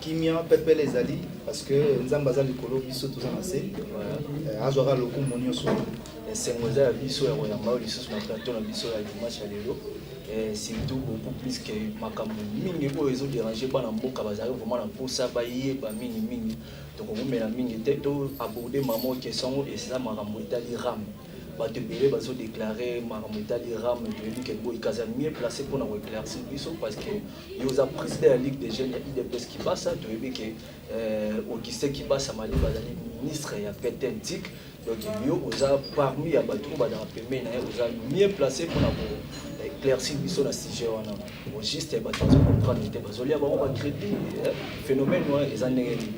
kimia pepele ezali parce que nzambe aza likolo biso toza na se eh, azwaka lokumu nyonso esengo eza ya biso ya koyamba oyo lisusu na plateau na biso ya dimanche ya lelo eh, surtout beaucoup plus que makambo mingi oyo ezoderange bana mboka bazali vraiment na mposa bayeba mingi mingi tokokomela mingi te to aborde mama question yango eza makambo etali rame bato ebele bazodeklare makambo etali rame toyebi ke boyikaza mieux place mpona koeclaircir biso parce que Yo oza president ya Ligue des jeunes ya UDPS Kibasa, toyebi ke euh, Augustin Kibasa Maliba azali ministre ya PTN TIC. Donc yo oza parmi ya bato oyo bazalaka pembeni na ye, oza mieux placé mpona ko éclairci biso na sujet wana o juste bato bazo comprendre te bazolia bango ba crédit eh, phénomène wana eza ndenge nini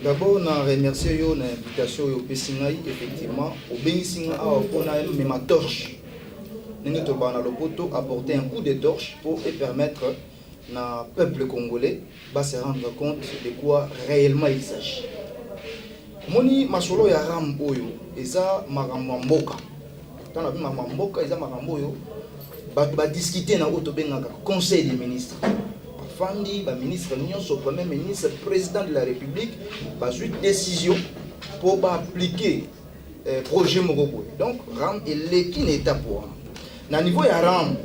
d'abord na remercie yo na invitation oyo opesi ngai effectivement obengisi ngai awa mpona mema torche ndenge tolobaka na lopoto apporter un coup de torche pour e permettre na peuple congolais ba se rendre compte de quoi réellement il s'agit omoni masolo ya ram oyo eza makambo ya mboka ntango nabi makambo ya mboka eza makambo oyo bato badiskute na oyo tobengaka conseil des ministres bafandi baministre nyonso premier ministre président de la république bazwi décision mpo baaplike eh, projet moko boye donc ram eleki na étape wana na niveau ya ram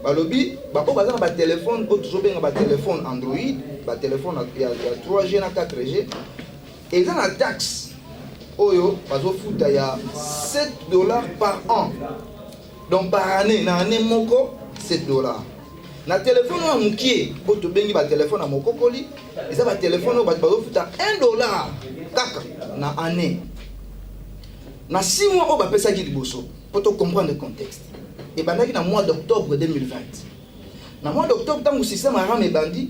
balobi baoyo baza na batelefone oyo tozobenga batelefone android batelefone ya 3g na 4g eza na taxe oyo bazofuta ya 7 dollars par an donc par année na année moko 7 dollars na telefone oyo ya mokie oyo tobengi batelefone ya mokokoli eza batelefone oyo bato bazofuta 1 dollar kaka na année na 6 mois oyo bapesaki liboso mpo tocomprendre contexte ebandaki na mois d'octobre 2020 na mois d'octobre ntango système aram ebandi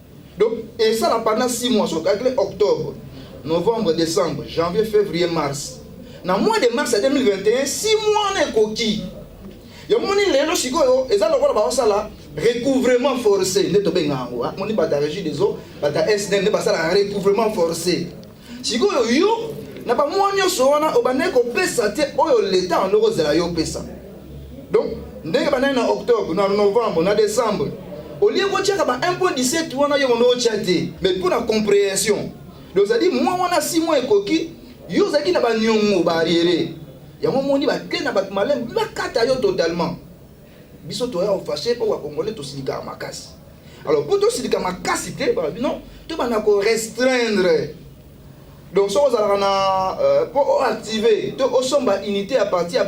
Donc, et ça là pendant 6 mois, soit calculé octobre, novembre, décembre, janvier, février, mars. Na mois de mars 2021, 6 mois na ekoki. Ya moni lelo sikoyo eza lokola ba osala recouvrement forcé nde tobenga yango moni bata régie des eaux bata SDN nde basala recouvrement forcé sikoyo yo na bamwa nyonso wana obandaki kopesa te oyo leta yango kozela yo opesa donc ndenge bandaki na octobre na novembre na décembre olie kotyaka ba 1.17 wana yo mondo otya te mais mpo na comprehension dozali mwa wana si mwa ekoki yo ozalaki na baniongo baariere yango omoni bakei na bato maleme bakata yo totalement biso toya ofashe mpo bakongole tosilikaka makasi alors mpo tosilika makasi te balobi non tobanda korestreindre donc soki ozalaka na euh, mpo oactive to osomba unité ya parti ya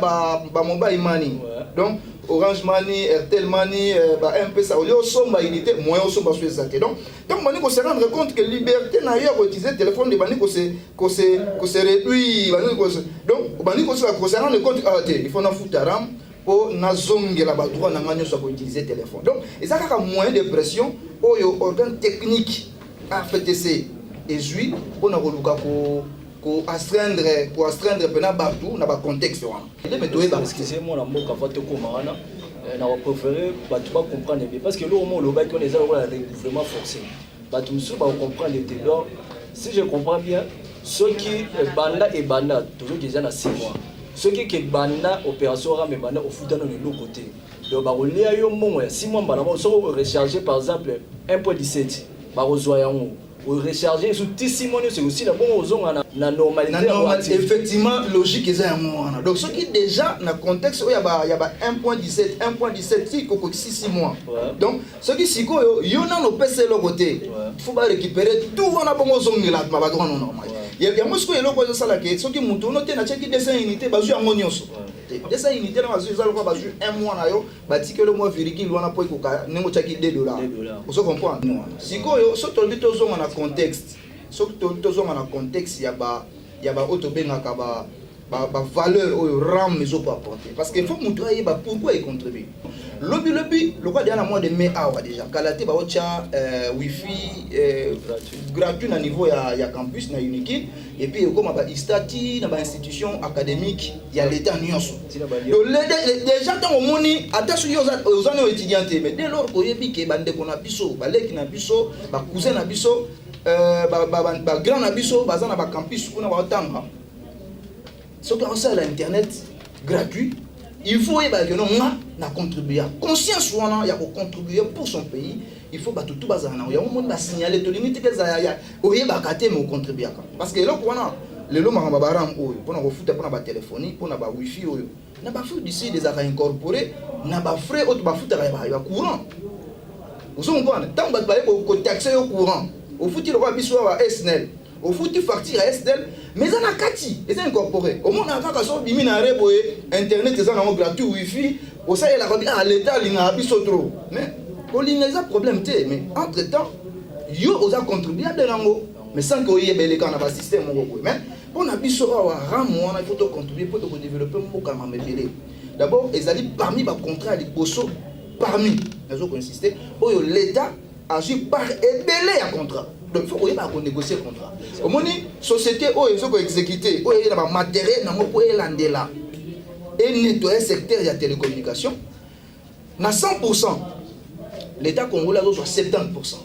bamobile mani donc orange mani airtel mani euh, ba mpesa olie osomba unité moyen osomba so eza te donc ntango bandi kose rendre compte que liberté na yo ya koutilize téléphone de bandi kose réduire bandi donc obandi kose rendre compte awa ah, te il faut nafuta rame po nazongela ba droit na nga nyonso ya koutilize telefone donc eza kaka moyen de pression oyo organe technique rftc ezwi mpo na koluka ko ko astreindre ko astreindre mpena bato na bacontexte wana eleme toyeba excuse mwana mboka va tokoma wana eh, na baprefere bato bacomprendre bien parce que eloko mo olobaki wana eza lokola recouvrement forcé bato mosusu bakocomprendre te donc si je comprends bien soki ebanda ebanda tozoki eza na 6 mois soki ke banda operation rame banda ofuta nano eloko te donc bakolia yo mbongo ya six mois mbala moko soki orecharge par exemple 1 point 17 bakozwa yango orecharge esu ti six mois nyonso ekosila bongo ozonga na, na normalité normal, effectivement logique eza yango wana donc soki déjà na contexte oyo ya ba 1 point 17 1 point 17 ti kokokisi six mois ouais. donc soki sikoyo yo nano opesa eloko te fo ba récupérer tout wana bongo ozongela mabato wana normal yango sikoyo eloko ezosala ke soki moto ono te natyaki 200 unité bazwi yango nyonso te 200 unité na bazwi eza lokola bazwi un mois na yo batikeli mwa virgule wana mpo ekoka ndenge otyaki 2 dollar ozo comprendre wana sikoyo soki tolobi tozonga na contexte soki tolobi tozonga na contexte ya ba ya baoyo tobengaka ba ba, ba valeur oyo ram ezo ko apporter parce que faut mutu ayeba pourquoi e contribue lobi lobi lokola deja na mois de mai awa deja kala te baotya euh, wifi euh, gratuit na niveau ya, ya campus na uniki et puis ekoma ba istati na ba institution académique ya leta nyonso donc deja ntango omoni ata soki oza nao étudiant te mais dès lors koyebi ke bandeko na biso baleki na biso bacousin na biso euh, bagrand ba, ba, ba na biso baza na bacampus kuna baotanga soki aosalela internet gratuit il faut oyeba que non nga na contribuer conscience wana ya kocontribuer pour son pays il faut bato tu bazala nango yango moni basignale tolingi tika ezala ya oyebaka te me ocontribuaka parce que eloko wana lelo makambo ya baram oyo mpona kofuta mpona batelefoni mpona bawifi oyo na ba fruits du sud ezalaka incorpore na ba frais oyo tobafutaka ya ba- ya courant ozo comprendre ntango bato baye ko- kotaxe yo courant ofuti lokola biso awa ba snel ofuti facture ya snel mais eza na kati eza incorpore omonaka kaka so obimi na re boye internet eza nango gratuit wifi osalelaka bi ah leta alingaka biso trop mais kolinga eza problème te mais entre temps yo oza contribuable nango mais sans que oyeba elekaka na basystème moko boye mais Pona biso awa ramu wana il faut to contribuer po to ko developper mboka ya mamebele. D'abord ezali parmi ba contrats ya liboso parmi nazo ko insister oyo l'État azwi par ebele ya contrat donc il faut koyeba konégocier contrat omoni société oyo ezo ko exécuter oyo eyela ba matériel nango mpo elandela enettoye secteur ya télécommunication na 100 pourcent l'état congolais azozwa 70 pourcent